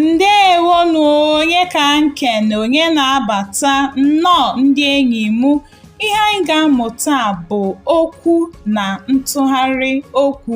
ndewo nụ onye ka nkene onye na-abata nnọọ ndị enyi m ihe anyị ga-amụ taa bụ okwu na ntụgharị okwu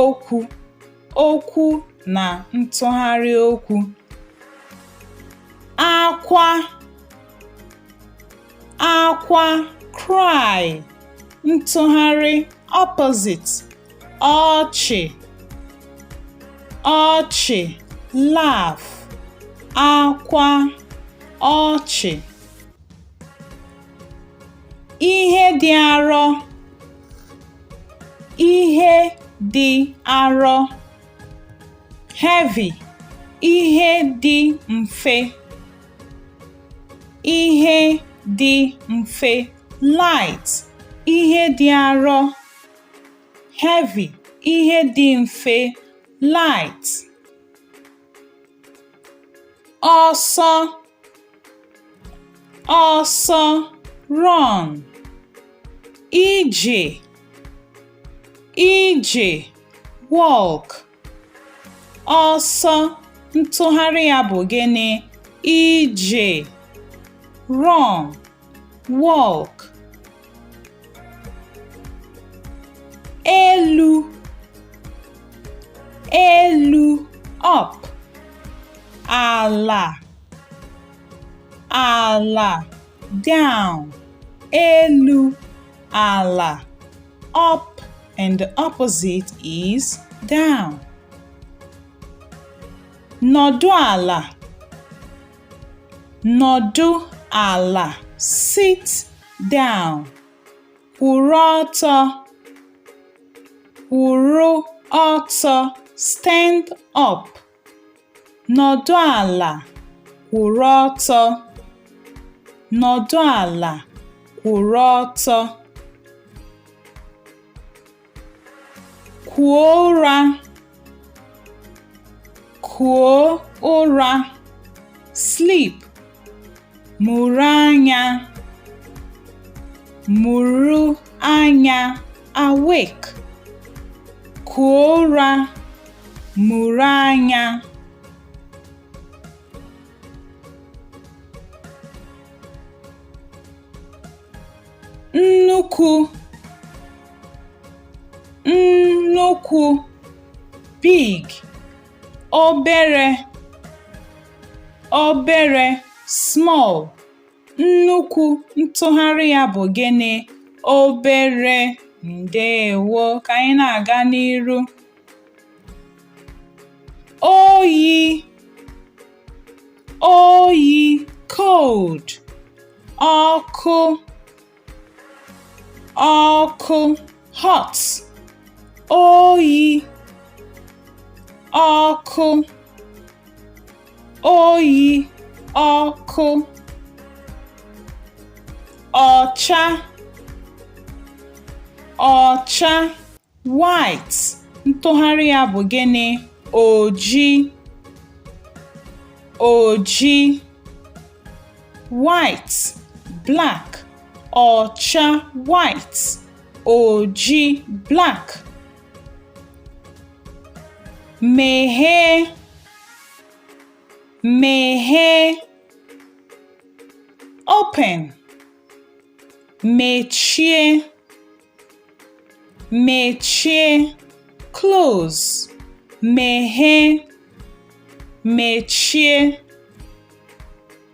okwu okwu na ntụgharị okwu akwa akwa cry ntụgharị opposite ọchị ọchị laugh akwa ọchị ihe dị arọ ihe dị arọ heavy ihe dị mfe ihe dị mfe light ihe dị arọ heavy ihe dị mfe light ọsọ ọsọ run ije ije walk ọsọ ntụgharị ya bụ gịnị ije run walk elu elu up ala ala down elu ala up and the opposite is down nọdụ ala Nọdụ ala, sit down. Kwụrụ ọtọ, kwụrụ ọtọ, stand up. Nọdụ ala, kwụrụ ọtọ. Nọdụ ala, kwụrụ ọtọ. Kuo ụra. Kuo ụra. Sleep. Mụrụ anya. Mụrụ anya. Awake. Kuo ụra. Mụrụ anya. nnukwu nnukwu big obere obere small nnukwu ntụgharị ya bụ gịnị obere ndewo ka anyị na-aga n'iru oyi oyi cold ọkụ ọkụ hot oyi ọkụ oyi ọkụ ọcha ọcha White ntụgharị ya bụ gịnị? Oji oji white black ọcha white oji black meghee meghee open mechie mechie close meghee mechie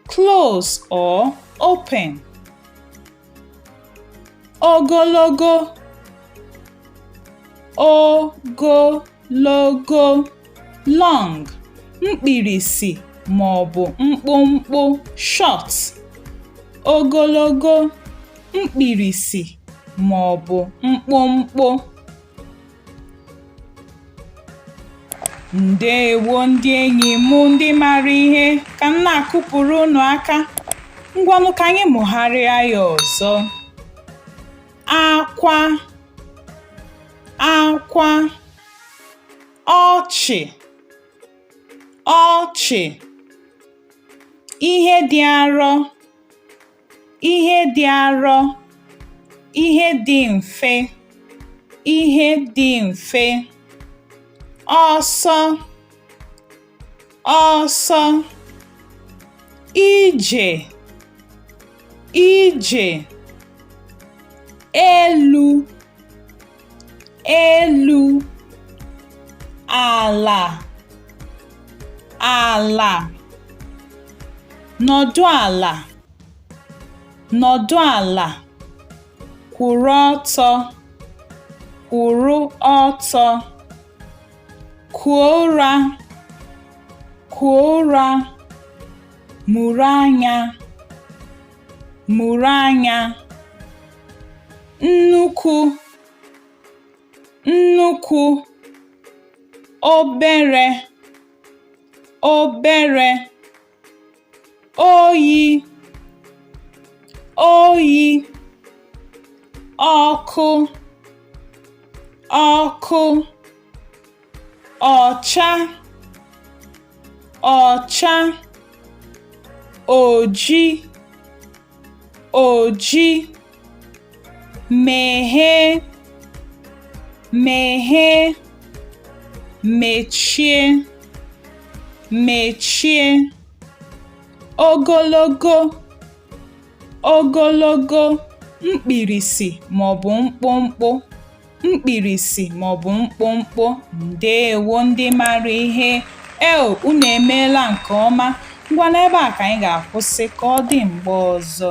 close or open ogologo ogologo long mkpirisi ma ọ bụ mkpụmkpụ short ogologo mkpirisi ma ọ bụ mkpụmkpụ ndewo ndị enyi m ndị mara ihe ka m na-akụpụrụ unu aka ngwanụ ka anyị mụgharịa ya ọzọ akwa akwa ọchị ọchị ihe dị arọ ihe dị arọ ihe dị mfe ihe dị mfe ọsọ ọsọ ije ije elu elu ala ala nọdụ ala nọdụ ala kwụrụ ọtọ kwụrụ ọtọ Kuo ụra, kuo ụra, mụrụ anya, mụrụ anya. Nnukwu, nnukwu, obere, obere. oyi oyi ọkụ ọkụ ọcha ọcha oji oji meghee meghee mechie mechie ogologo ogologo mkpirisi ma ọ bụ mkpụmkpụ mkpirisi ma ọ bụ mkpụmkpụ ndeewo ndị mara ihe eo unu emeela nke ọma ngwa n'ebe a ka anyị ga-akwụsị ka ọ dị mgbe ọzọ